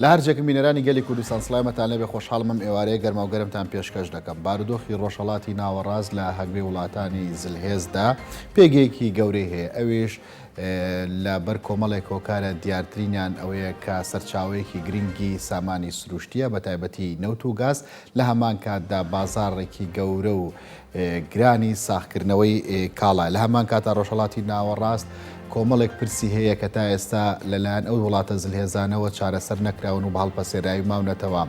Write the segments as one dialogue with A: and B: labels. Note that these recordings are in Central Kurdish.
A: لە هەرجێکم بینەرانی گەلی کوردستان سڵایمەتان لێبێ خۆشحاڵم ئەم ئێوارەیە گەرماو گەرمتان پێشکەش دەکەم بارودۆخی ڕۆژهەڵاتی ناوەڕاست لە هەگبەی وڵاتانی زلهێزدا پێگەیەکی گەورەی هەیە ئەویش لە بەر کۆمەڵێک هۆکارە دیارترینیان ئەوەیە کە سەرچاوەیەکی گرنگی سامانی سروشتیە بە تایبەتی نەوت و گاز لە هەمان کاتدا بازارڕێکی گەورە و گرانی ساغکردنەوەی کاڵا. لە هەمان کاتدا ڕۆژهەڵاتی ناوەڕاست کۆمەڵێک پرسی هەیە کە تا ئێستا لەلایەن ئەو وڵاتە زلهێزانەوە چارەسەر نەکراون و بە هەڵپەسێراوی ماونەتەوە،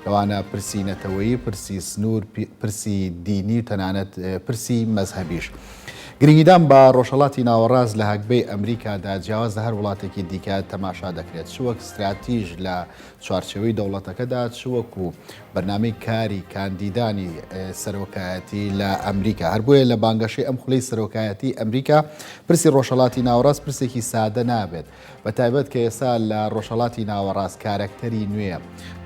A: لەوانە پرسی نەتەوەیی، پرسی سنوور، پرسی دینی و تەنانەت پرسی مەزهەبیش. گرنگیدان بە ڕۆژهەڵاتی ناوەڕاست لە هەگبەی ئەمریکادا جیاواز لە هەر وڵاتێکی دیکە تەماشا دەکرێت، چ وەک ستراتیژ لە چوارچێوەی دەوڵەتەکەدا، چ وەکو بەرنامەی کاری کاندیدانی سەرۆکایەتی لە ئەمریکا هەر بۆیە لە بانگەشەی ئەم خولەی سەرۆکایەتی ئەمریکا پرسی ڕۆژهڵاتی ناوەڕاست پرسێکی سادە نابێت بە تایبەت کە ئێستا لە ڕۆژهڵاتی ناوەڕاست کارەکتەری نوێ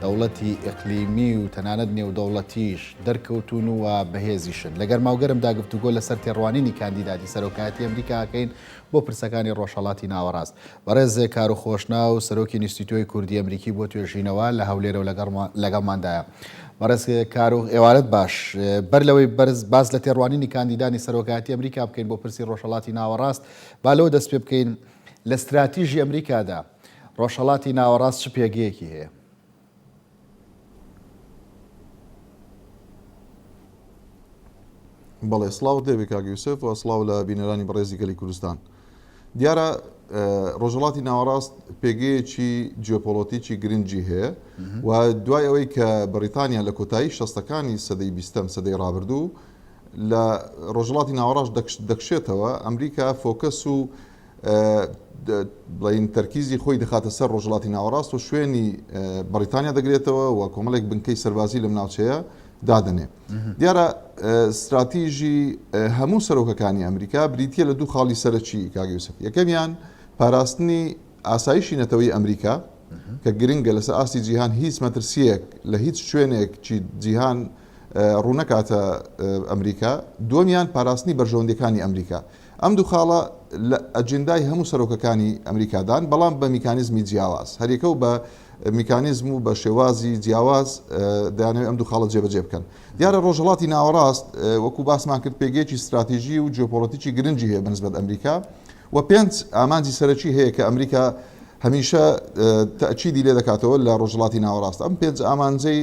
A: دەوڵەتی ئەقلیمی و تەنانەت نێودەوڵەتیش دەرکەوتون و بەهێزیشن لە گەرماوگەرمدا گفتوگۆ لەسەر تێڕوانینی کاندیداتی سەرۆکایەتی ئەمریکاکەین بۆ پرسەکانی ڕۆژهەڵاتی ناوەڕاست. بەڕێز زێکارو خۆشناو سەرۆکی نیستیتۆی کوردی ئەمریکی بۆ توێژینەوە لە هەولێرەو لەگەڵماندایە. بەڕێز کارو ئێوارەت باش. بەر لەوەی بەرز باس لە تێڕوانینی کاندیدانی سەرۆکایەتی ئەمریکا بکەین بۆ پرسی ڕۆژهەڵاتی ناوەڕاست با لەوە دەست پێ بکەین لە ستراتیژی ئەمریکادا ڕۆژهەڵاتی ناوەڕاست چ پێگەیەکی هەیە؟
B: بەڵێ سڵاوت لێبێ کاک یوسف و سڵاو لە بینەرانی بەڕێزی گەلی کوردستان دیارە ڕۆژهڵاتی ناوەڕاست پێگەیەکی جیۆپۆلۆتیکی گرنگجی هەیە و دوای ئەوەی کە بەریتانیا لە کۆتایی شەستەکانی سەدەی بیستەم سەدەی ڕابردوو لە ڕۆژهڵاتی ناوەڕاش دەکشێتەوە ئەمریکا فۆکەس و بڵێین تەرکیزی خۆی دەخاتە سەر ڕۆژهەڵاتی ناوەڕاست و شوێنی بەڕیتانیا دەگرێتەوە و کۆمەڵێک بنکەی سەربازی لەم ناوچەیە دادەنێ دیارە استراتیژی هەموو سەرۆکەکانی ئەمریکا بریتە لە دوو خاڵی سەرەکی کاگەوسف یەکەمیان پاراستنی ئاسایشی نەتەوەی ئەمریکا کە گرنگە لەسەر ئاستی جیهان هیچ مەترسیەک لە هیچ شوێنێک چی جیهان ڕوونەکاتە ئەمریکا دومیان پاراستنی بەرژەوەندەکانی ئەمریکا ئەم دوو خاڵە لە ئەجندای هەموو سەرۆکەکانی ئەمریکادان، بەڵام بە میکانیزمی جیاواز. هەریەکە و بە میکانیزم و بە شێوازی جیاواز دەیانەوێت ئەم دوو خاڵە جێبەجێ بکەن. دیارە ڕۆژهەڵاتی ناوەڕاست وەکو باسمان کرد پێگەیەکی ستراتیژی و جیۆپۆڵەتیکی گرنگی هەیە بەنسبەت ئەمریکا و پێنج ئامانجی سەرەکی هەیە کە ئەمریکا هەمیشە تەئکیدی لێ دەکاتەوە لە ڕۆژهەڵاتی ناوەڕاست ئەم پێنج ئامانجەی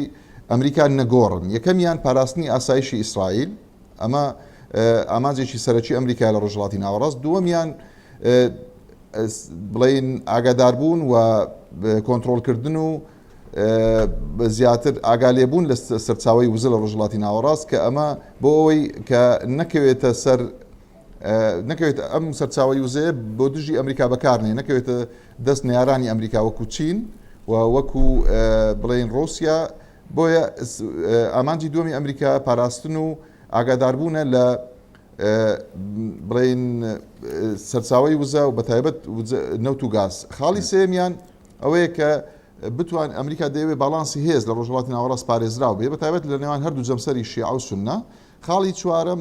B: ئەمریکا نەگۆڕن یەکەمیان پاراستنی ئاسایشی ئیسرائیل ئەمە ئامانجێکی سەرەکی ئەمریکایە لە ڕۆژهەڵاتی ناوەڕاست، دووەمیان بڵێین ئاگاداربوون و کۆنترۆڵکردن و زیاتر ئاگا لێبوون لە سەرچاوی وزە لە ڕۆژهەڵاتی ناوەڕاست کە ئەمە بۆ ئەوەی کە نەکەوێتە سەر نەکەوێت ئەم سەرچاوی وزەیە بۆ دژی ئەمریکا بەکارنێ نەکەوێتە دەست نارانی ئەمریکا وەکو چین و وەکو بڵین ڕوسیا بۆیە ئامانجی دووەمی ئەمریکا پاراستن و ئاگاداربوونە لە بڵێین سەرچاوی وزە و بەتایبەت نەوت و گاز. خاڵی سێمیان ئەوەیە کە بتوان ئەمریکا دەیەوێت باڵانسی هێز لە ڕۆژهڵاتی ناوەڕاست پارێزراو بێ بەتابەت لە نێوان هەردوو جەمسەری شیعە و سنە خاڵی چوارم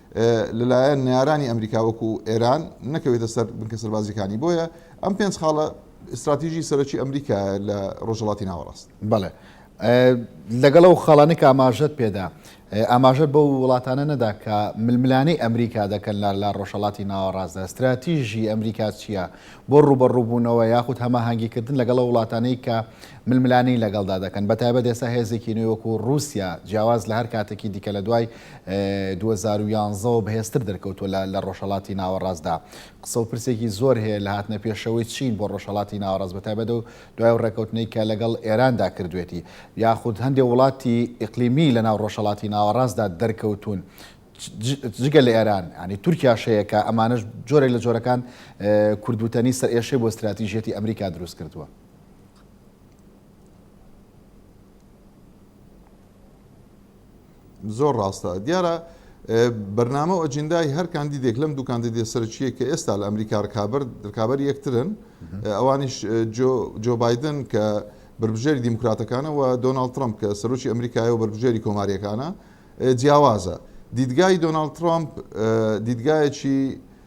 B: لەلایەن نەیارانی ئەمریکا وەکو ئێران نەکەوێتە سەر بنکە سەربازیەکانی بۆیە ئەم پێنج خاڵە استراتیژی سەرەکی ئەمریکا لە ڕۆژهڵاتی ناوەڕاست بڵێ
A: لەگەڵ و خاڵانی کە ئاماژەت پێدا ئاماژە بە وڵاتانە نەدا کە ململانەی ئەمریکا دەکەن لار لا ڕۆژهڵاتی ناوەڕاستدا استراتیژی ئەمریکا چییە بۆ ڕوبەڕووبوونەوە یاخود هەماهنگگیکردن لەگەڵ وڵاتانەی کە ململانی لەگەڵدا دەکەن بە تایبەت ئێستا هێزێکی نوێ وەکو رووسیا جیاواز لە هەر کاتێکی دیکە لە دوای دوو هەزار و یانزە وە بەهێزتر دەرکەوتووە لە لە ڕۆژهەڵاتی ناوەڕاستدا قسە و پرسێکی زۆر هەیە لە هاتنە پێشەوەی چین بۆ ڕۆژهەڵاتی ناوەڕاست بەتایبەت و دوای ڕێکەوتنەی کە لەگەڵ ئێراندا کردوێتی یاخود هەندێک وڵاتی ئیقلیمی لە ناو ڕۆژهەڵاتی ناوەڕاستدا دەرکەوتون جگە لە ئێران ینی تورکیا شەیەکە ئەمانش جۆرێک لە جۆرەکان کوردوتەنی سەر ئێشەی بۆ استراتیژیەتی ئەمریکا دروست کردووە
B: زۆر ڕاستە. دیارە بەرنامە و ئەجندای هەر کاندیدێک لەم دوو کاندیدێ سەرچیە کە ئێستا لە ئەمریکا ڕکابەر ڕکابەر یەکترن ئەوانیش جۆ بادن کە بربژێری دیموکراتەکانە و دۆناالد ترمپ کە سەرۆکی ئەمریکای و بربژێری کۆماریەکانە جیاوازە دیدگای دۆناالد ترامپ دیدگایەکی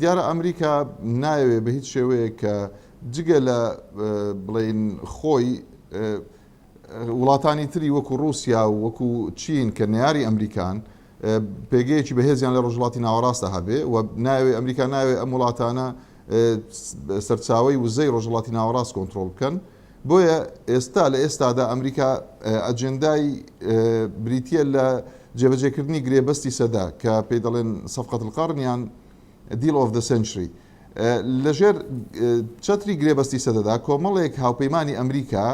B: دیارە ئەمریکا نایەوێ بە هیچ شێوەیەک کە جگە لە بڵین خۆی وڵاتانی تری وەکو رووسیا و وەکو چین کە نیاری ئەمریکان پێگەیەکی بەهێزیان لە ڕژڵاتی ناوەڕاستە هەبێ و ناوێ ئەمریکا ناوێ ئەم وڵاتانە سەرچاوی وزەی ڕۆژهڵاتی ناوەڕاست کۆنتترۆل بکەن بۆیە ئێستا لە ئێستادا ئەمریکا ئەجێندای بریتییە لە جێبەجێکردنی گرێبەستی سەدە کە پێی دەڵێن سەفقەت القەڕن یان دیل ئۆف دە سنچری لەژێر چەتری گرێبەستی سەدەدا کۆمەڵێک هاوپەیمانی ئەمریکا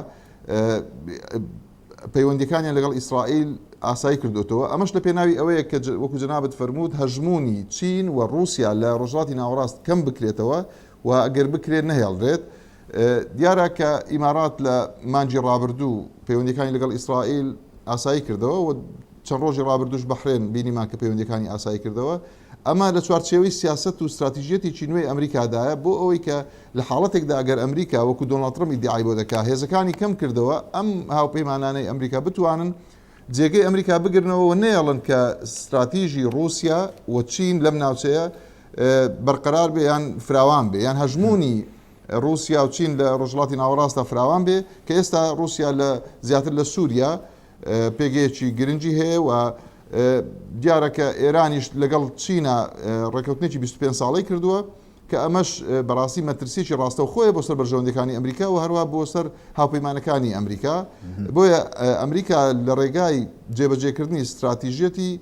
B: پەیوەندەکانیان لەگەڵ ئیسرائیل ئاسایی کردوێتەوە ئەمەش لە پێناوی ئەوەیە کە وەکو جنابەت فەرمووت هەژمونی چین و رووسیا لە ڕۆژاتی ناوەڕاست کەم بکرێتەوە و ئەگەر بکرێت نەهێڵرێت دیارە کە ئیمارات لە مانگی ڕابردوو پەیوەندییەکانی لەگەڵ ئیسرائیل ئاسایی کردەوە و چەند ڕۆژی ڕابردووش بەحرێن بینیمان کە پەیوەندییەکانی ئاسایی کردەوە، ئەمە لە چوارچێوەی سیاسەت و ستراتیژیەتێکی نوێی ئەمریکادایە بۆ ئەوەی کە لە حاڵەتێکدا ئەگەر ئەمریکا وەکو دۆناڵد ترەمپ ئیدیعای بۆ دەکا هێزەکانی کەم کردەوە ئەم هاوپەیمانانەی ئەمریکا بتوانن جێگەی ئەمریکا بگرنەوە و نەیەڵن کە ستراتیژی ڕووسیا و چین لەم ناوچەیە بەرقەرار بێ یان فراوان بێ یان هەژموونی ڕووسیا و چین لە ڕۆژڵاتی ناوەڕاستە فراوان بێ کە ئێستا ڕووسیا لە زیاتر لە سووریا پێگەیەکی گرنگی هەیە و دیارە کە ئێرانیش لەگەڵ چینە ڕێککەوتنێکی 25 ساڵی کردووە کە ئەمەش بەڕاستی مەترسیەکی ڕاستەوخۆیە بۆ سەر بەرژەوەندەکانی ئەمریکا و هەروە بۆ سەر هاوپەیمانەکانی ئەمریکا بۆیە ئەمریکا لە ڕێگای جێبەجێکردنی استراتیژیەتی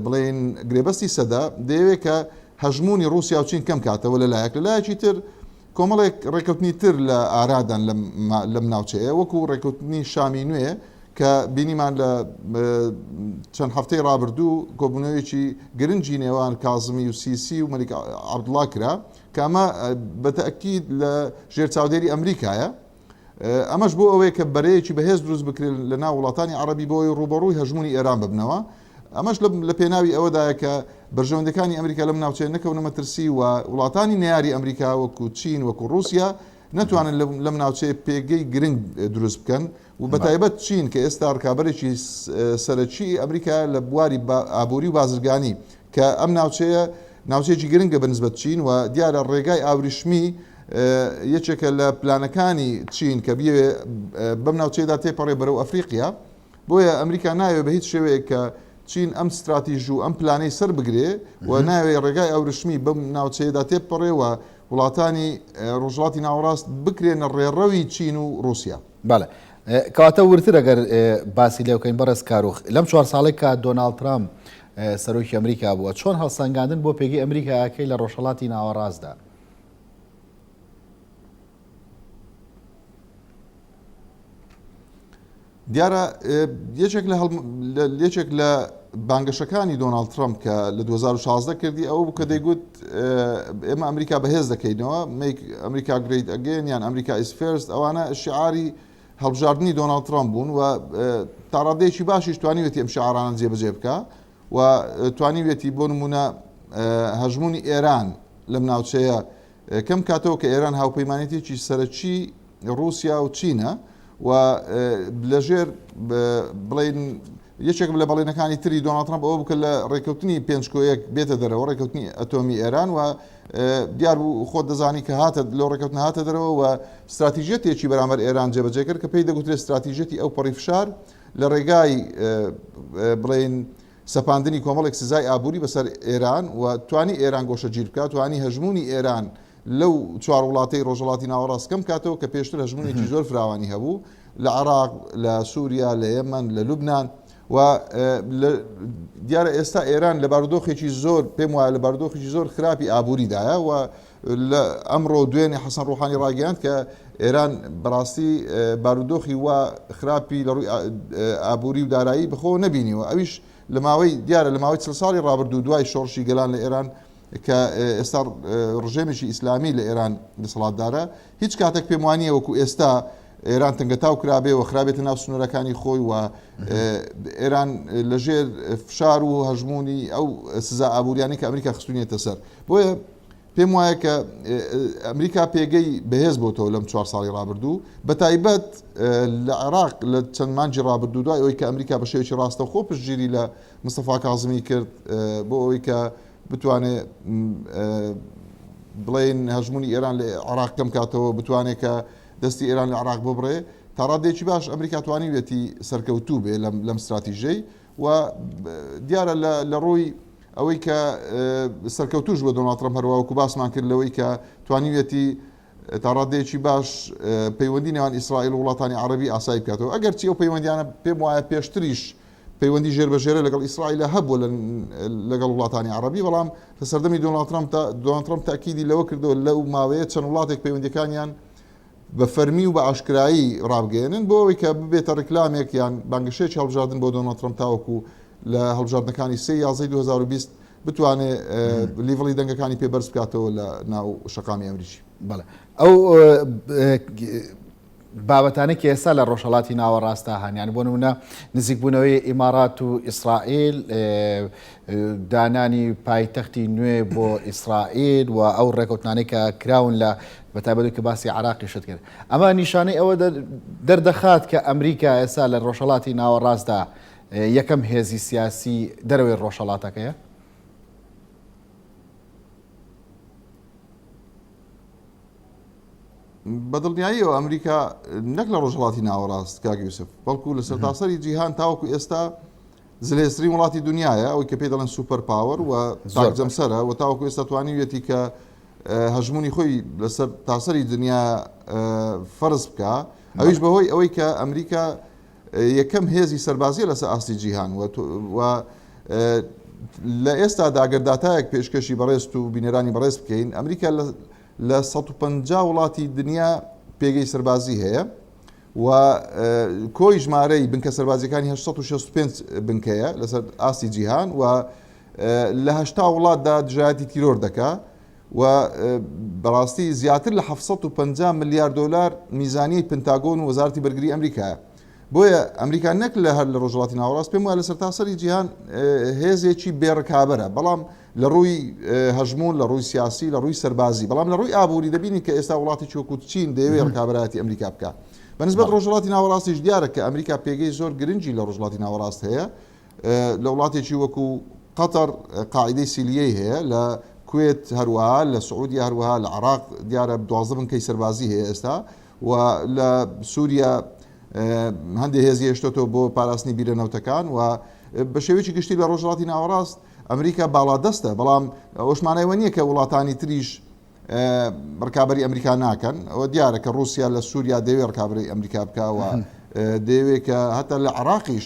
B: بڵێن گرێبەستی سەدا دەیەوێت کە هەژمونی رووسیا و چین کەم کاتەوە لە لایەک لە لایەکی تر کۆمەڵێک ڕێکەوتنی تر لە ئارادان لەم ناوچەیە وەکو ڕێکەوتنی شامی نوێ کە بینیمان لە چەند هەفتەی ڕابردوو کۆبوونەوەیەکی گرنگی نێوان کازمی و سیسی و مەلیک عەبدوڵا کرا کە ئەمە بە تەئکید لە ژێر چاودێری ئەمریکایە ئەمەش بۆ ئەوەیە کە بەرەیەکی بەهێز دروست بکرێت لە ناو وڵاتانی عەڕەبی بۆ ئەوەی ڕووبەڕووی هەژموونی ئێران ببنەوە. ئەمەش لە پێناوی ئەوەدایە کە بەرژەوەندیەکانی ئەمریکا لەم ناوچەیە نەکەونە مەترسی و وڵاتانی نەیاری ئەمریکا وەکو چین وەکو ڕووسیا نەتوانن لەم ناوچەیە پێگەی گرنگ دروست بکەن و بە تایبەت چین کە ئێستا ڕکابەرێکی سەرەکی ئەمریکا لە بواری ئابووری و بازرگانی کە ئەم ناوچەیە ناوچەیەکی گرنگە بە نسبەت چین و دیارە ڕێگای ئاوریشمی یەکێکە لە پلانەکانی چین کە بیەوێ بەم ناوچەیەدا تێپەڕێ بەرەو ئەفریقیا بۆیە ئەمریکا ناوێ بە هیچ شێوەیە کە چین ئەم ستراتیژ و ئەم پلانەی سەر بگرێ و ناوێ ڕێگای ئەورشمی بەم ناوچەیەدا تێپەڕێەوە وڵاتانی ڕۆژڵاتی ناوەڕاست بکرێنە ڕێڕەوی چین و رووسیا بەڵێ
A: کاتە ورتر ئەگەر باسی لێوکەین بەڕێز کارۆخ لەم چوار ساڵێک کە دۆناالد ترامپ سەرۆکی ئەمریکا بووە، چۆن هەڵسەنگاندن بۆ پێگەی ئەمریکایەکەی لە ڕۆژهەڵاتی ناوەڕاستدا.
B: دیارە یەکێک لە یەکێک لە بانگەشەکانی دۆناالد ترامپ کە لە 2016 کردی ئەو کە دەیگوت ئێمە ئەمریکا بەهێز دەکەینەوە ئەمریکا گریت ئەگەن یان ئەمریکا ئیسفێرست ئەوانە شعاری هەڵبژاردنی دۆناڵد ترەمپ بوون و تا ڕادەیەکی باشیش توانیوێتی ئەم شعارانە جێبەجێ بکا و توانیوێتی بۆ نمونە هەژمونی ئێران لەم ناوچەیە کەم کاتەوە کە ئێران هاوپەیمانێتێکی سەرەکی ڕوسیا و چینە و لەژێر بڵین یەکێک لە بەڵێنەکانی تری دۆناڵد ترەمپ ئەوە بوو کە لە ڕێککەوتنی پێنج کۆیەک بێتە دەرەوە، ڕێککەوتنی ئەتۆمی ئێران و دیار بوو خۆت دەزانی کە هاتە لەو ڕێککەوتنە هاتە دەرەوە و ستراتیژیەتێکی بەرامبەر ئێران جێبەجێ کرد کە پێی دەگوترێت ستراتیژیەتی ئەوپەڕی فشار لە ڕێگای بڵێین سەپاندنی کۆمەڵێک سزای ئابووری بەسەر ئێران و توانی ئێران گۆشەگیر بکات توانی هەژموونی ئێران لەو چوار وڵاتەی ڕۆژهەڵاتی ناوەڕاست کەم کاتەوە کە پێشتر هەژموونێکی زۆر فراوانی هەبوو لە عێراق، لە سووریا، لە یەمەن، لە لوبنان و دیارە ئێستا ئێران لە بارودۆخێکی زۆر پێم وایە لە بارودۆخێکی زۆر خراپی ئابووریدایە و لە ئەمڕۆ دوێنێ حەسەن ڕوحانی ڕاگەیاند کە ئێران بەڕاستی بارودۆخی و خراپی لە ڕووی ئابووری و دارایی بخۆ نەبینیوە ئەویش لە ماوەی دیارە لە ماوەی چل ساڵی ڕابردوو دوای شۆڕشی گەلان لە ئێران کە ئێستا ڕژێمێکی ئیسلامی لە ئێران دەسەڵاتدارە، هیچ کاتێک پێم وا نییە وەکوو ئێستا ئێران تەنگەتاو کرابێ و خرابێتە ناو سنوورەکانی خۆی و ئێران لەژێر فشار و هەژموونی ئەو سزا ئابووریانی کە ئەمریکا خستونیێتە سەر بۆیە پێم وایە کە ئەمریکا پێگەی بەهێز بۆتەوە لەم چوار ساڵی رابردوو بە تایبەت لە عێراق لە چەند مانجی رابردوو دوای ئەوی کە ئەمریکا بە شێوکی ڕاستەخۆ پشتگیری لە مستەفا کازمی کرد بۆ ئەوی کە بتوانێ بڵێن هەژمونی ئێران لە عراق کەم کاتەوە بتوانێت کە دەستی ئێران لە عراق ببڕێ تاڕادێکی باش ئەمریکا توانیوێتی سەرکەوتوو بێ لەم استراتیژەی و دیارە لە ڕووی ئەوەی کە سەرکەوتوش بە دۆناترم هەروەکو باسمان کرد لەوەی کە توانیوێتی تا ڕاددەیەکی باش پەیوەندی نێوان ئیسرائیل و وڵاتانی عەرەبی ئاسایی بکاتەوە، ئەگەرچی ئەو پەیوەندیانە پێم وایە پێشتریش پەیوەندی ژێربەژێرە لەگەڵ ئیسرائیلە هەبووە لەگەڵ وڵاتانی عەرەبی، بەڵام لە سەردەمی دۆناڵد ترەمپ دا دۆناڵد ترەمپ تەئکیدی لەوە کردەوە لەو ماوەیە چەند وڵاتێک پەیوەندیەکانیان بە فەرمی و بە ئاشکرایی ڕابگەیەنن بۆ ئەوەی کە ببێتە ڕیکلامێک یان بانگەشەیەکی هەڵبژاردن بۆ دۆناڵد ترەمپ تاوەکو لە هەڵبژاردنەکانی سێ یازەی 2020 بتوانێ لیڤڵی دەنگەکانی پێ بەرز بکاتەوە لە ناو شەقامی ئەمریکی. بەڵێ ئەو
A: بابەتانەی کە ئێستا لە ڕۆژهەڵاتی ناوەڕاستدا هەن یان بۆ نمونە نزیکبوونەوەی ئیمارات و ئیسرائیل دانانی پایتەختی نوێ بۆ ئیسرائیل و ئەو ڕێکوتنانەی کە کراون لە بەتابەت کە باسی عراقی شت کرد ئەمە نیشانەی ئەوە دەردەخات کە ئەمریکا ئێستا لە ڕۆژهڵاتی ناوەڕاستدا یەکەم هێزی سیاسی دەرەوەی ڕۆژهەڵاتەکەیە.
B: بەدڵنیاییەوە ئەمریکا نەک لە ڕۆژهڵاتی ناوەڕاست کاک یوسف بەڵکو لە سەرتاسەری جیهان تاوەکو ئێستا زلێسری وڵاتی دنیاە ئەوی کە پێ دەڵێن سوپەر پاوەر و زۆر جەمسەرە و تاوەکو ئێستا توانیویەتی کە هەژمونی خۆی لەسەر تاسەری دنیا فەرز بکە ئەویش بەهۆی ئەوەی کە ئەمریکا یەکەم هێزی سەربازیە لەسەر ئاستی جیهان و لە ئێستادا گەر داتایەک پێشکەشی بەڕێزت و بینەرانی بەڕێز بکەین ئەمریکا لە 150 وڵاتی دنیا پێگەی سەربازی هەیە و کۆی ژمارەی بنکە سەربازیەکانی 1965 بنکەیە لەسەر ئاستی جیهان و لە هەشتا وڵاتدا دژایەتی تیرۆر دەکا و بەڕاستی زیاتر لە حەفت سەد و پەنجا ملیار دۆلار میزانیەی پنتاگۆن و وەزارەتی بەرگری ئەمریکایە بۆیە ئەمریکا نەک لە هەر لە ڕۆژڵاتی ناوەڕاست پێم وە لە سەرتاسەری جیهان هێزێکی بێڕکابەرە بەڵام لە ڕووی هەژمون لە ڕووی سیاسی لە ڕووی سەربازی بەڵام لە ڕووی ئابووری دەبینی کە ئێستا وڵاتی چۆکوت چین دەیەوێ ڕکابراتی ئەمریکا بکە بەنسبەت ڕۆژڵاتی ناوەڕاستیش دیارە کە ئەمریکا پێگەی زۆر گرنگی لە ڕۆژڵاتی ناوەڕاست هەیە لە وڵاتێکی وەکوو قەتەر قاعیدەی سیلیەی هەیە لە کوێت هەروەها لە سعودیا هەروەها لە عراق دیارە دوازدە بنکەی سەربازی هەیە ئێستا و لە سووریا هەندێک هێزی هێشتۆتەوە بۆ پاراستنی بیرە نەوتەکان و بە شێوێکی گشتی لە ڕۆژڵاتی ناوەڕاست ئەمریکا باڵادەستە بەڵام ئەوشمانایوە نییە کە وڵاتانی تریش ڕکابی ئەمریکا ناکەن ئەوە دیارە کە رووسیا لە سووریا دەوێت ڕکابی ئەمریکا بکەوە دەیەوێت کە هەتا لە عراقیش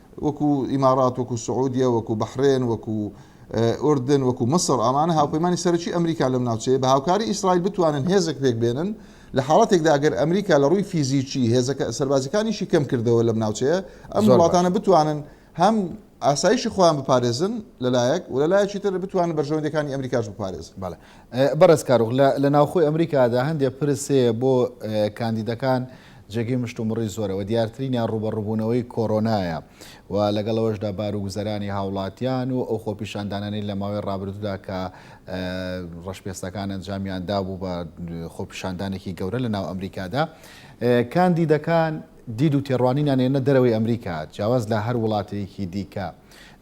B: وەکو ئیمارات، وەکو سعودیە، وەکو بەحرێن، وەکو ئوردن، وەکو میسر، ئەمانە هاوپەیمانی سەرەکی ئەمریکان لەم ناوچەیە، بە هاوکاری ئیسرائیل بتوانن هێزێک پێکبێنن، لە حاڵەتێکدا ئەگەر ئەمریکا لە ڕووی فیزیکی هێزە سەربازیەکانیشی کەمکردەوە لەم ناوچەیە، ئەم وڵاتانە بتوانن هەم ئاسایشی خۆیان بپارێزن لەلایەک، و لەلایەکی تر بتوانن بەرژەوەندیەکانی ئەمریکاش بپارێزن. بەڵێ بەڕێز
A: کارۆخ، لە ناوخۆی ئەمریکادا هەندێک پرس هەیە بۆ کاندیدەکان، جێگەی مشتومڕی زۆرە و دیارترینیان ڕووبەڕووبوونەوەی کۆرۆنایە و لەگەڵ ئەوەشدا بار و گوزەرانی هاوڵاتیان و ئەو خۆپیشاندانانەی لە ماوەی ڕابردوودا کە ڕەشپێستەکان ئەنجامیان دابوو بە خۆپیشاندانێکی گەورە لە ناو ئەمریکادا کاندیدەکان دید و تێڕوانینان ێنە دەرەوەی ئەمریکا جیاواز لە هەر وڵاتەیەکی دیکە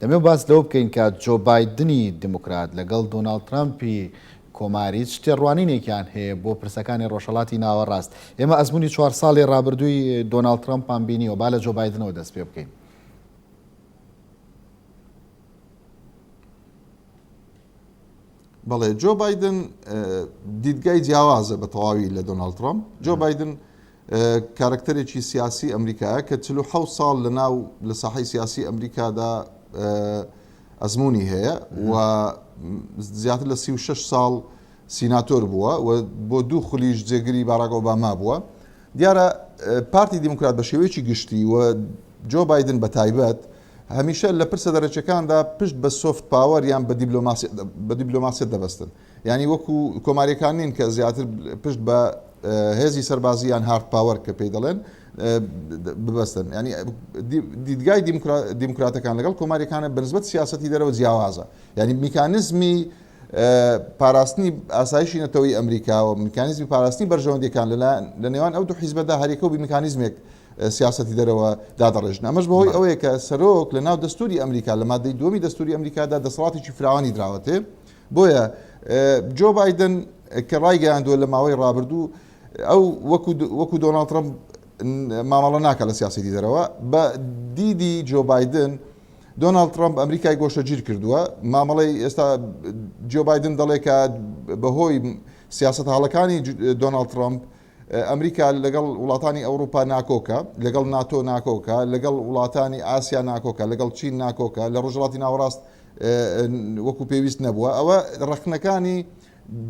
A: دەمێ باس لەوە بکەین کە جۆ بایدنی دموکرات لەگەڵ دۆناڵد ترامپی کۆمار هیچ تێڕوانینێکیان هەیە بۆ پرسەکانی ڕۆژهەڵاتی ناوەڕاست؟ ئێمە ئەزموونی چوار ساڵی ڕابردووی دۆناڵد ترەمپمان بینیوە، با لە جۆ بایدنەوە دەست پێ بکەین.
B: بەڵێ جۆ بایدن دیدگای جیاوازە بە تەواوی لە دۆناڵد ترەمپ. جۆ بایدن کارەکتەرێکی سیاسی ئەمریکایە کە چل و حەوت ساڵ لە ناو لە ساحەی سیاسی ئەمریکادا ئەزموونی هەیە و زیاتر لە سی و شەش ساڵ سیناتۆر بووە و بۆ دوو خولیش جێگری باراک ئۆباما بووە دیارە پارتی دیموکرات بە شێوەیەکی گشتی و جۆ بادن بە تایبەت هەمیشە لە پرسە دەرەچەکاندا پشت بە سۆفت پاوەر یان بە دیبلۆماسیەت دەبەستن یانی وەکو کۆماریەکان نین کە زیاتر پشت بە هێزی سەربازی یان هارد پاوەر کە پێی دەڵێن ببەستن ینی دیدگای دیموکراتەکان لەگەڵ کۆماریەکانە بەنسبەت سیاستی دەرەوە جیاوازە ینی میکانزمی پاراستنی ئاسایشی نەتەوەی ئەمریکاوە میکانزمی پاراستنی بەرژەوەندەکان لەلایەن لە نێوان ئەو دو حیزبەدا هەریەکە و میکانزمێک سیاستی دەرەوە دادەڕێژن ئەمەش بەهۆی ئەوەیە کە سەرۆک لە ناو دەستوری ئەمریکا لە مادەی دومی دەستوری ئەمریکادا دەسەڵاتێکی فراوانی دراوەتێ بۆیە جۆ بایدن کە ڕایگەیاندووە لە ماوەی ڕابردوو ئەو وەکو دۆناڵد ترەمپ مامەڵە ناکە لە سیاسەتی دەرەوە بە دیدی جۆ بایدن دۆناڵد ترامپ ئەمریکای گۆشە گیر کردووە مامەڵی ئێستا جۆ بایدن دەڵێکە بەهۆی سیاست هاڵەکانی دۆناڵد ترامپ ئەمریکا لەگەڵ وڵاتانی ئەوڕوپا ناکۆکە، لەگەڵ ناتۆ ناکۆکە، لەگەڵ وڵاتانی ئاسیا ناکۆکە، لەگەڵ چین ناکۆکە، لە ڕۆژهەڵاتی ناوەڕاست وەکو پێویست نەبووە، ئەوە ڕەخنەکانی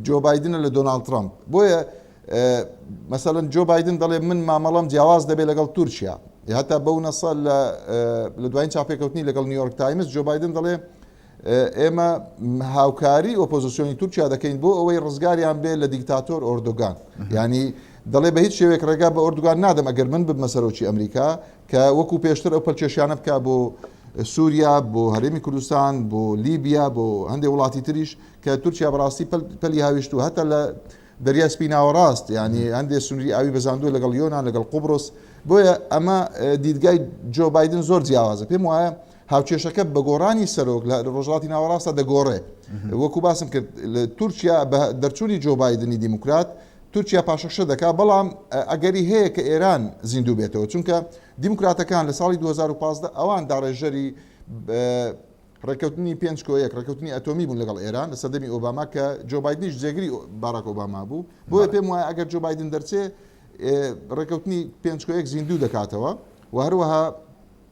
B: جۆ بایدنە لە دۆناڵد ترەمپ. بۆیە مەسەلەن جۆ بایدن دەڵێ من مامەڵەم جیاواز دەبێت لەگەڵ تورکیا. هەتا بەو نەسە لە دوایین چاپێکەوتنی لەگەڵ نیویۆرک تایمز جۆ بایدن دەڵێ ئێمە هاوکاری ئۆپۆزیسیۆنی تورکیا دەکەین بۆ ئەوەی ڕزگاریان بێ لە دیکتاتۆر ئۆردۆگان ینی دەڵێ بە هیچ شێوێک ڕێگا بە ئۆردوگان نادەم ئەگەر من ببمە سەرۆکی ئەمریکا کە وەکو پێشتر ئەو پەلکێشیانە بکە بۆ سووریا بۆ هەرێمی کوردستان بۆ لیبیا بۆ هەندێک وڵاتی تریش کە تورکیا بەڕاستی پەلی هاویشت و هەتا لە دەریای سپی ناوەڕاست ینی هەندێک سنووری ئاوی بەزاندووە لەگەڵ یۆناان لەگەڵ قوبرس بۆیە ئەمە دیدگای جۆ بادن زۆر جیاوازە پێم وایە هاوکێشەکە بە گۆڕانی سەرۆک لە ڕۆژهەڵاتی ناوەڕاستدا دەگۆڕێ. وەکو باسم کرد تورکیا بە دەرچوونی جۆ بایدنی دیموکرات، تورکیا پاشەکشە دەکا، بەڵام ئەگەری هەیە کە ئێران زیندوو بێتەوە، چونکە دیموکراتەکان لە ساڵی دوو هەزار و پازدە ئەوان داڕێژەری ڕێککەوتنی پێنج کۆ یەک، ڕێککەوتنی ئەتۆمی بوون لەگەڵ ئێران لە سەردەمی ئۆباما کە جۆ بایدنیش جێگری باراک ئۆباما بوو، بۆیە پێم وایە ئەگەر جۆ بایدن دەرچێ ڕێککەوتنی پێنج کۆ یەک زیندوو دەکاتەوە و هەروەها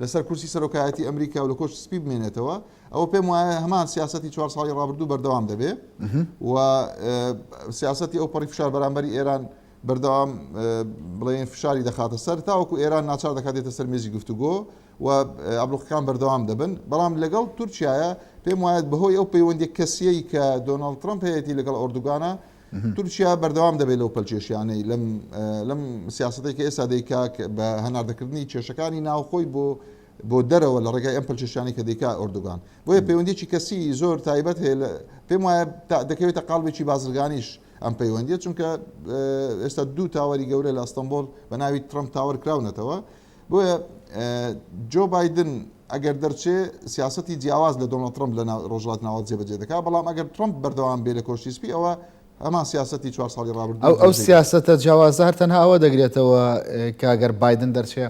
B: لەسەر کورسی سەرۆکایەتی ئەمریکا و لە کۆشکی سپی بمێنێتەوە، ئەوە پێم وایە هەمان سیاسەتی چوار ساڵی ڕابردوو بەردەوام دەبێ و سیاسەتی ئەوپەڕی فشار بەرامبەری ئێران بەردەوام بڵێن فشاری دەخاتە سەر تاوەکو ئێران ناچار دەکاتێتە سەر مێزی گفتوگۆ و ئابلوقەکان بەردەوام دەبن بەڵام لەگەڵ تورکایە پێم وایەت بەهۆی ئەو پەیوەندی کەسیەی کە دۆناڵد ترمپ هەیەی لەگەڵ ئۆردوگانە تورکیا بەردەوام دەبێت لەو پەلکێشیانەی لەم لەم سیاستەی کە ئێستا دەیکاک بە هەناردەکردنی کێشەکانی ناوخۆی بۆ بۆ دەرەوە لە ڕێگای ئەم پلچشانی کە دیکا ئۆردوگان بۆیە پەیوەندیی کەسی زۆر تایبەت هەیە لە پێم وایە دەکەوێتە قالبێکی بازرگانیش ئەم پەیوەندیە چونکە ئێستا دوو تاوەری گەورە لە ئەستەمبۆل بە ناوی ترمپ تاوەر کراونەتەوە بۆیە جۆ بایدن ئەگەر دەرچێ سیاستی جیاواز لە دۆناڵد ترەمپ لە ڕۆژهەڵاتی ناوەند جێبەجێ دەکات، بەڵام ئەگەر ترەمپ بەردەوام بێ لە کۆشکی سپی ئەوە هەمان سیاستی چوار ساڵی ڕابردوو ئەو ئەو جێبەجێ دەکات. سیاسەتە
A: جیاوازە هەر تەنها ئەوە دەگرێتەوە کە گەر بایدن دەرچێ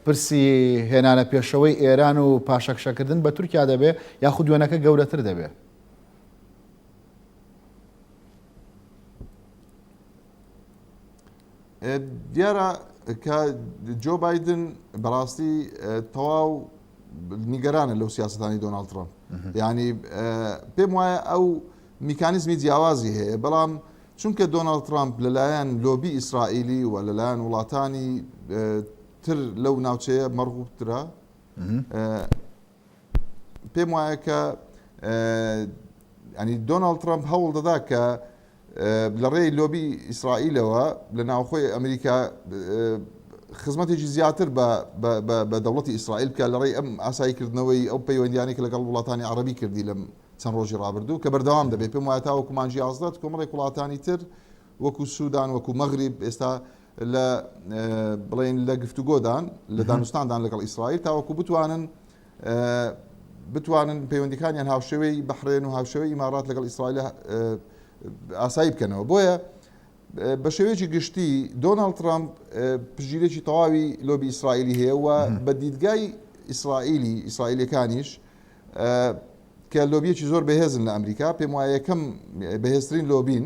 A: پرسی هێنانە پێشەوەی ئێران و پاشەکشەکردن بە تورکیا دەبێ یاخود وێنەکە گەورەتر دەبێ.
B: دیارە کە جۆ بادن بەڕاستی تەواو نیگەرانە لەو سیاستانی دۆناالد ترامپ ینی پێم وایە ئەو میکانیزمی جیاوازی هەیە بەڵام چونکە دۆناالد ترامپ لەلایەن لۆبی ئیسرائیلی و لەلایەن وڵاتانی تر لەو ناوچەیە مەڕغوبترا پێم وایە کە ینی دۆناڵد ترامپ هەوڵ دەدا کە لە ڕێی لۆبی ئیسرائیلەوە لە ناوخۆی ئەمریکا خزمەتێکی زیاتر بە دەوڵەتی ئیسرائیل بکە لە ڕێی ئەم ئاساییکردنەوەی ئەو پەیوەندیانێک لەگەڵ وڵاتانی عربی کردی لەم چەند ڕۆژی ڕابردوو کە بەردەوام دەبێت پێم وایە تاوەکو مانجی ئازدات کۆمەڵی وڵاتانی تر وەکو سوودان وەکو مەغریب ئێستا لە بڵێن لە گفتوگۆدان لە دانوستاندان لەگەڵ ئیسرائیل تاوەکو بتوانن بتوانن پەیوەندیکانیان هاوشێوەی بەحرێن و هاوشێوەی ئیمارات لەگەڵ ئیسرائیل ئاسایی بکەنەوە بۆیە بە شێوەیەکی گشتی دۆناڵد ترامپ پژیرێکی تەواوی لۆبی ئیسرائیلی هەیە و بە دیدگای ئیسرائیلی ئیسرائیلەکانیش کە لۆبیەکی زۆر بەهێزن لە ئەمریکا پێم وایە یەکەم بەهێزترین لۆبین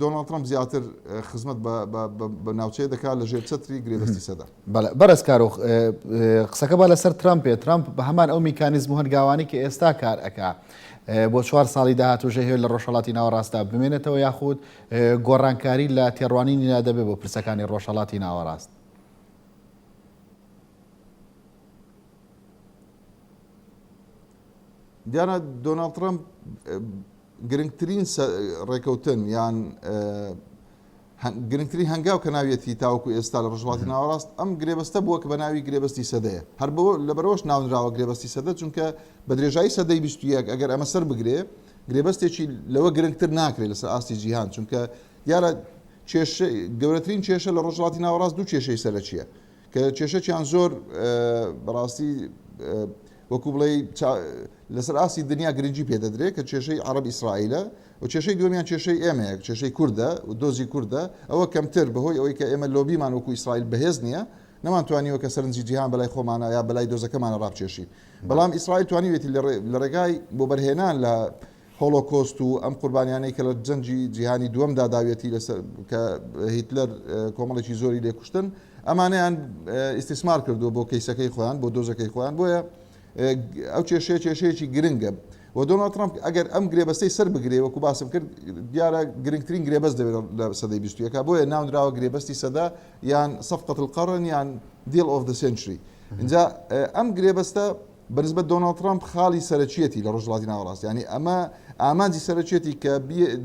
B: دۆناڵد ترەمپ زیاتر خزمەت بە ناوچەیە دەکات لە ژێر چەتری گرێبەستی سەدە. بەڵێ بەڕێز کارۆخ،
A: قسەکە با لەسەر ترەمپێ، ترەمپ بە هەمان ئەو میکانیزم و هەنگاوانەی کە ئێستا کار ئەکا، بۆ چوار ساڵی داهاتوو ژەهێ لە ڕۆژهەڵاتی ناوەڕاستدا بمێنێتەوە یاخود گۆڕانکاری لە تێڕوانینیدا دەبێ بۆ پرسەکانی ڕۆژهەڵاتی ناوەڕاست؟ دیارە
B: دۆناڵد ترەمپ گرنگترین ڕێکەوتن یان گرنگترین هەنگاو کە ناویەتی تاوەکو ئێستا لە ڕژڵاتی ناوەڕاست ئەم گرێبەستە بووە کە بە ناوی گرێبەستی سەدەیە هەر بۆ لەبەرەوەش ناونراوە گرێبەستی سەدە چونکە بە درێژایی سەدەی بیستویەک ئەگەر ئەمە سەر بگرێ گرێبەستێکی لەوە گرنگتر ناکرێت لەسەر ئاستی جیهان چونکە دیارە کێشە گەورەترین کێشە لە ڕۆژهەڵاتی ناوەڕاست دوو کێشەی سەرەکیە کە کێشەکیان زۆر بەڕاستی وەکو بڵێ لەسەر ئاسی دنیا گرنگی پێدەدرێت کە کێشەی عرب ئیسرائیلە و کێشەی دومیان کێشەی ئێمەیە کێشەی کووردە و دۆزی کووردە ئەوە کەمتر بەهۆی ئەوەی کە ئێمە لۆبیمان وەکو ئیسرائیل بەهێز نییە نەمانتوانیوە کە سەرنجی جیهان بەلای خۆمانە یا بەلای دۆزەکەمانە ڕابچێشی بەڵام ئیسرائیل توانیوێتی لە ڕێگای بۆ بەرهێنان لە هۆلۆکۆست و ئەم قوربانیانەی کە لە جەنگی جیهانی دووەمدا داویەتی لەسەر کە هیتلەر کۆمەڵێکی زۆری لێ کوشتن ئەمانەیان ئیستیسمار کردووە بۆ کەیسەکەی خۆیان بۆ دۆزەکەی خۆیان بۆیە ئەو کێشەیە کێشەیەکی گرنگە و دۆناڵد ترامپ ئەگەر ئەم گرێبەستەی سەر بگرێ وەکو باسم کرد دیارە گرنگترین گرێبەست دەبێت لە سەدەی بیستویەکە بۆیە ناونراوە گرێبەستی سەدا یان سەفقەت القەڕن یان دیل ئۆف دە سنچری اینجا ئەم گرێبەستە بەنسبەت دۆناڵد ترەمپ خاڵی سەرەکیەتی لە ڕۆژهەڵاتی ناوەڕاست، یانی ئەمە ئامانجی سەرەکیەتی کە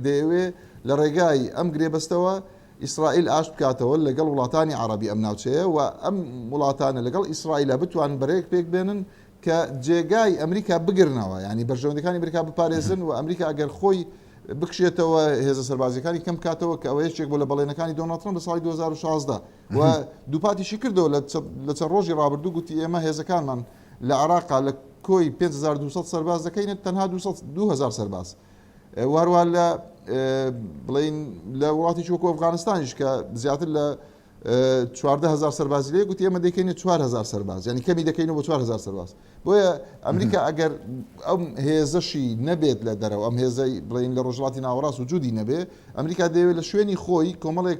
B: دەیەوێ لە ڕێگای ئەم گرێبەستەوە ئیسرائیل ئاشت بکاتەوە لەگەڵ وڵاتانی عەڕەبی ئەم ناوچەیە و ئەم وڵاتانە لەگەڵ ئیسرائیلا بتوانن بەرەیەک پێک بێنن کە جێگای ئەمریکا بگرنەوە یانی بەرژەوەندەکانی ئەمریکا بپارێزن و ئەمریکا ئەگەر خۆی بکشێتەوە هێزە سەربازیەکانی کەم کاتەوە کە ئەوە یەکێک بۆ لە بەڵێنەکانی دۆناڵد ترەمپ لە ساڵی 2016 و دووپاتیشی کردەوە لە چەند ڕۆژی ڕابردوو گوتی ئێمە هێزەکانمان لە عێراقا لە کۆی 5200 سەرباز دەکەینە تەنها 2000 سەرباز و هەروە لە بڵین لە وڵاتیش وەکو ئەفغانستانیش کە زیاتر لە 14000 سەربازی لێ گوتی ئێمە دەکەینە 4000 سەرباز ینی کەمی دەکەینەوە بە 4000 سەرباز بۆیە ئەمریکا ئەگەر ئەم هێزەشی نەبێت لە دەرەوە ئەم هێزەی بڵین لە ڕۆژڵاتی ناوەڕاست و جودی نەبێ ئەمریکا دەیەوێت لە شوێنی خۆی کۆمەڵێک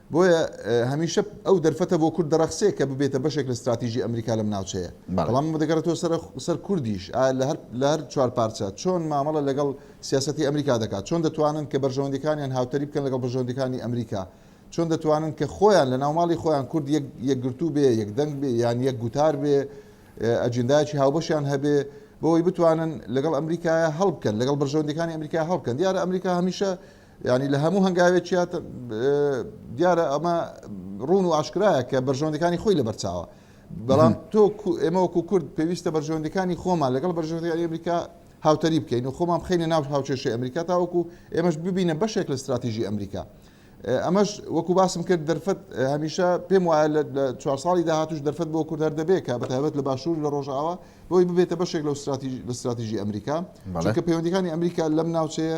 B: بۆیە هەمیشە ئەو دەرفەتە بۆ کورد دەڕەخسێ کە ببێتە بەشێک لە ستراتیژی ئەمریکا لەم ناوچەیە. بەڵام ئەمە دەگەڕێتەوە سەر سەر کوردیش ئایا لە هەر لە هەر چوار پارچە چۆن مامەڵە لەگەڵ سیاسەتی ئەمریکا دەکات؟ چۆن دەتوانن کە بەرژەوەندیەکانیان هاوتەریب بکەن لەگەڵ بەرژەوەندیەکانی ئەمریکا؟ چۆن دەتوانن کە خۆیان لە ناوماڵی خۆیان کورد یەک یەکگرتوو بێ، یەک دەنگ بێ، یان یەک گوتار بێ، ئەجندایەکی هاوبەشیان هەبێ بۆ ئەوەی بتوانن لەگەڵ ئەمریکایە هەڵبکەن، لەگەڵ بەرژەوەندیەکانی ئەمریکا هەڵبکەن؟ دیارە ئەمریکا هەمیشە یانی لە هەموو هەنگاوێکیا دیارە ئەمە ڕوون و ئاشکرایە کە بەرژەوەندەکانی خۆی لەبەرچاوە بەڵام تۆ ئێمە وەکو کورد پێویستە بەرژەوەندەکانی خۆمان لەگەڵ بەرژەوەندی ئەمریکا هاوتەری بکەین و خۆمان بخینە ناو هاوچێشی ئەمریکا تاوەکو ئێمەش ببینە بەشێک لە استراتیژی ئەمریکا ئەمەش وەکو باسم کرد دەرفەت هەمیشە پێم وایە لە چوار ساڵی داهاتوش دەرفەت بۆ کورد هەر دەبێت کە بەتابەت لە باشوور لە ڕۆژاوە بۆی ببێتە بەشێک لە لە استراتیژی ئەمریکا چونکە پەیوەندەکانی ئەمریکا لەم ناوچەیە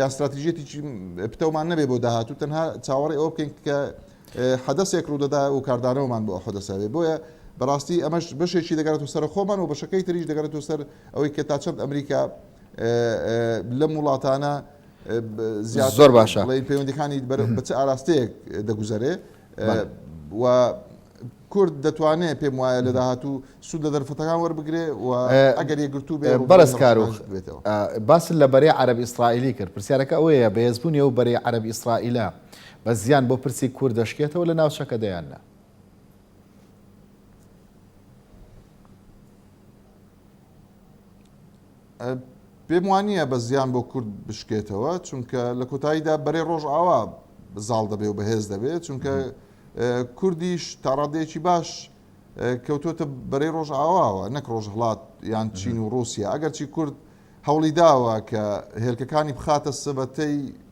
B: یان ستراتیژیەتیی پتەومان نەبێ بۆ داهاتوو تەنها چاوەڕێ ئەوە بکەین کە حەدەسێک ڕوودەدا و کاردانەوەمان بۆ حەدەسەێ بۆیە بەڕاستی ئەمەش بەشێکی دەگەێتەوە سەر خۆمان و بەشەکەی تریش دەگەێتەوە سەر ئەوەی کە تا چەند ئەمریکا لەم وڵاتانە زیاد
A: زۆر باشە بڵێ پەیوەندەکانی بەچ
B: ئاراستەیەک دەگوزارێ و کورد دەتوانێت پێم وایە لە داهاتوو سوود لە دەرفەتەکان وەربگرێ و ئەگەر یەکگرتوو بێ بەڕێز کارۆخ
A: بێتەوە. باست لە بەرەی عەرەب ئیسرائیلی کرد، پرسیارەکە ئەوەیە بەهێزبوونی ئەو بەرەی عەرەب ئیسرائیلە بە زیان بۆ پرسی کورد دەشکێتەوە لە ناوچەکەدا یان نا؟
B: پێم وانییە بە زیان بۆ کورد بشکێتەوە چونکە لە کۆتاییدا بەرەی ڕۆژئاوا زاڵ دەبێ و بەهێز دەبێت چونکە کوردیش تاڕادەیەکی باش کەوتوتە بەرەی ڕۆژ ئاواوە نەک ڕۆژ هڵات یان چین و رووسیا ئەگەرچی کورد هەوڵی داوە کە هێلکەکانی بخاتە سبەتەی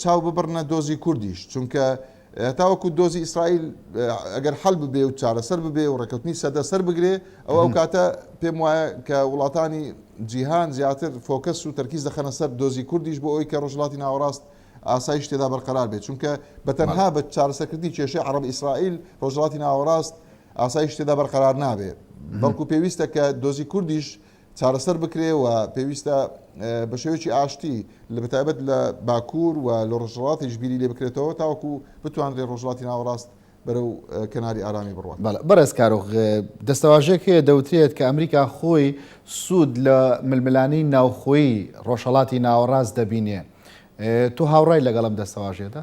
B: چاو ببڕنە دۆزی کوردیش چونکە هەتاوەکو دۆزی ئیسرائیل ئەگەر حەل ببێ و چارەسەر ببێ و ڕێکەوتنی سەدە سەر بگرێ ئەو ئەو کاتە پێم وایە کە وڵاتانی جیهان زیاتر فۆکەس و تەرکیز دەخەنە سەر دۆزی کوردیش بۆ ئەوی کە ڕژڵاتی ناوەڕاست ئاسایش تێدا بەرقەرار بێت چونکە بە تەنها بە چارەسەکردنی کێشەی عرب ئیسرائیل ڕۆژڵاتی ناوەڕاست ئاسایش تێدا بەرقەرار نابێت بەڵکو پێویستە کە دۆزی کوردیش چارەسەر بکرێ و پێویستە بە شێوەیەکی ئاشتی لە بەتایبەت لە باکوور و لە ڕۆژهەڵاتیش بیری لێ بکرێتەوە تاوەکو بتوانرێ ڕۆژهەڵاتی ناوەڕاست بەرەو کەناری ئارامی بڕوات. بەڵێ بەڕێز کارۆخ،
A: دەستەواژەیەک هەیە دەوترێت کە ئەمریکا خۆی سوود لە ململانێی ناوخۆیی ڕۆژهەڵاتی ناوەڕاست دەبینێ، تۆ هاوڕای لەگەڵ ئەم دەستەواژەیەدا؟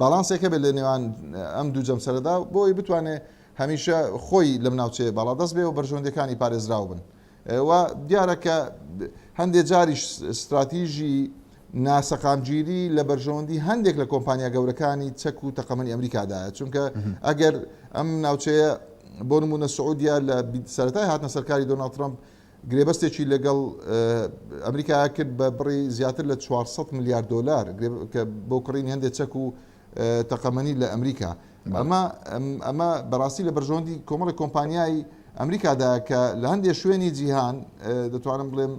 B: باڵانسێک هەبێت لە نێوان ئەم دوو جەمسەرەدا بۆ ئەوەی بتوانێت هەمیشە خۆی لەم ناوچەیە باڵادەست بێ و بەرژەوەندیەکانی پارێزراو بن و دیارە کە هەندێک جاریش ستراتیژی ناسەقامگیری لە بەرژەوەندی هەندێک لە کۆمپانیا گەورەکانی چەک و تەقەمەنی ئەمریکادایە چونکە ئەگەر ئەم ناوچەیە بۆ نمونە سعودیا لە سەرای هاتنە سەرکاری دۆناڵ ترمپ گرێبەستێکی لەگەڵ ئەمریکا کرد بە بڕی زیاتر لە چوار سەد ملیار دۆلار بۆ کڕینی هەندێک چەک و تەقەمەنی لە ئەمریکا. ئەمە ئەمە بەڕاستی لە بەرژەوەندی کۆمەڵی کۆمپانیای ئەمریکادا کە لە هەندێک شوێنی جیهان دەتوانم بڵێم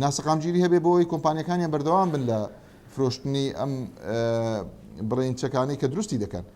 B: ناسەقامگیری هەبێ بۆی کۆمپانیەکانیان بەردەوام بن لە فرۆشتنی ئەم بڕین چەکانی کە دروستی دەکەن.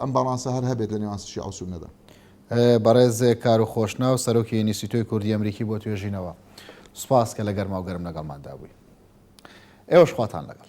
B: ئەم باڵانسە هەر هەبێت لە نێوان شیعە و سوننەدا. بەڕێز
A: کارو خۆشناو، سەرۆکی ئینیستیتۆی کوردی ئەمریکی بۆ توێژینەوە، سوپاس کە لە گەرما و گەرم لەگەڵماندا بووی. ئێوەش خواتان لەگەڵ.